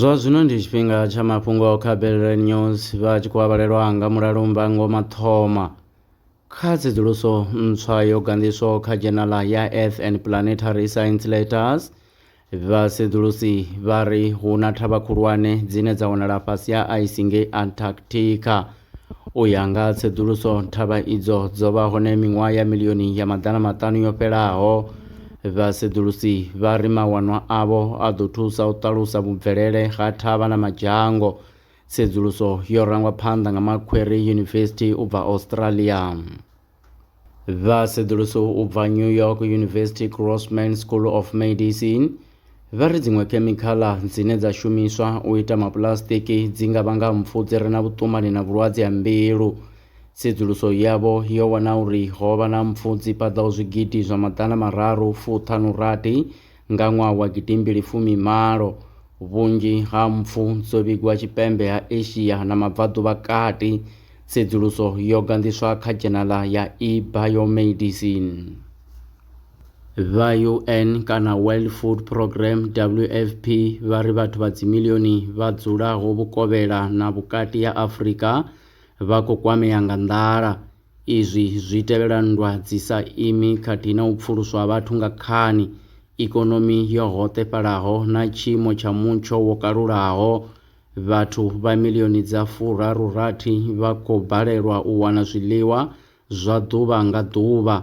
zwa zwino ndi tshifhinga tsha mafhungo a khabelele news vha tshi khou avhalelwa nga mulalo mbango mathoma kha tsedzuluso ntswa yo ganḓiswaho kha dzhenala ya earth and planetary science letters vhasedzulusi vha ri hu na thavha khulwane dzine dza wanala fhasi ha ice ngei antarctica U ya nga ha tsedzuluso, thavha idzo dzo vha hone miṅwaha ya milioni ya maḓana maṱanu yo fhelaho. Vhasedzulusi vha ri mawanwa avho a ḓo thusa u ṱalusa vhubvelele ha thavha na madzhango. Tsedzuluso yo rangwa phanḓa nga Macquarie University u bva Australia. vha sedzuluso u bva new york university grossman school of medicine vha ri dziṅwe khemikhala dzine dza shumiswa u ita mapulasitiki dzi nga vhanga mpfu dzi re na vhuṱumani na vhulwadze ha mbilu tsedzuluso yavho yo wana uri ho vha na mpfu dzi paḓaho zwigidi zwa maḓana mararu fuṱhanu rathi Nga ṅwaha wa gidimbili fumi malo, vhunzhi ha mpfu dzo vhigwa tshipembe ha Asia na Mabvaḓuvhakati. Tsedzuluso yo ganḓiswa kha dzhenala ya eBiomedicine. Vha UN kana World Food Program, WFP, vha ri vhathu vha dzimilioni vha dzulaho vhukovhela na vhukati ha Afrika vha khou kwamea nga nḓala. Izwi zwi tevhela nndwa dzi sa imi khathihi na u pfuluswa ha vhathu nga khani, ikonomi yo hoṱefhalaho na tshiimo tsha mutsho wo kalulaho. Vhathu vha milioni dza furaru rathi vha khou balelwa u wana zwiḽiwa zwa ḓuvha nga ḓuvha.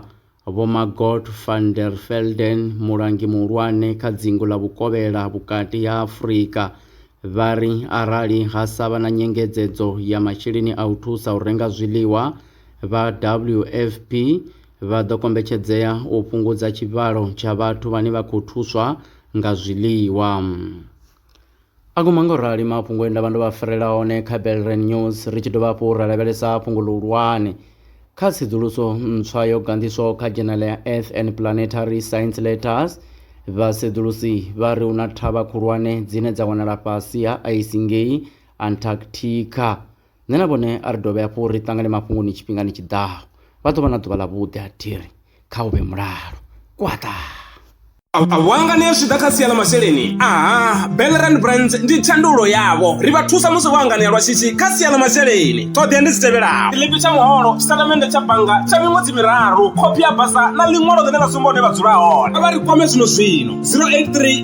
Vho Margot van der Velden, mulangi muhulwane kha dzingu ḽa Vhukovhela Vhukati ha Afrika, vha ri arali ha sa vha na nyengedzedzo ya masheleni a u thusa u renga zwiḽiwa, vha WFP vha ḓo kombetshedzea u fhungudza tshivhalo tsha vhathu vhane vha khou thuswa nga zwiḽiwa. A guma nga u rali mafhungo e nda vha ndo vha farela one kha Belren News ri tshi dovha hafhu ra lavhelesa fhungo ḽihulwane kha tsedzuluso ntswa yo ganḓiswaho kha dzhenele ya Earth and Planetary Science Letters. Vhasedzulusi vha ri hu na thavha khulwane dzine dza wanala fhasi ha aisi ngei Antarctica. nṋe na vhone a ri dovhe hafhu ri ṱangane mafhungoni tshifhingani tshi ḓaho vha ḓo vha na ḓuvha ḽa vhuḓi ha thiri kha u vhe mulalo kwaṱa Awanga ni zwi ḓa kha sia ḽa masheleni aha Bellerand Brands ndi thandululo yavho ri vha thusa musi vho anganea lwa shishi kha sia ḽa masheleni ṱhoḓea ndi dzi tevhelaho tshiḽipi tsha muholo tshitatamennde tsha bannga tsha miṅwedzi miraru khophi ya basa na ḽiṅwalo ḽine ḽa sumba hune vha dzula hone vha ri kwame zwino zwino 083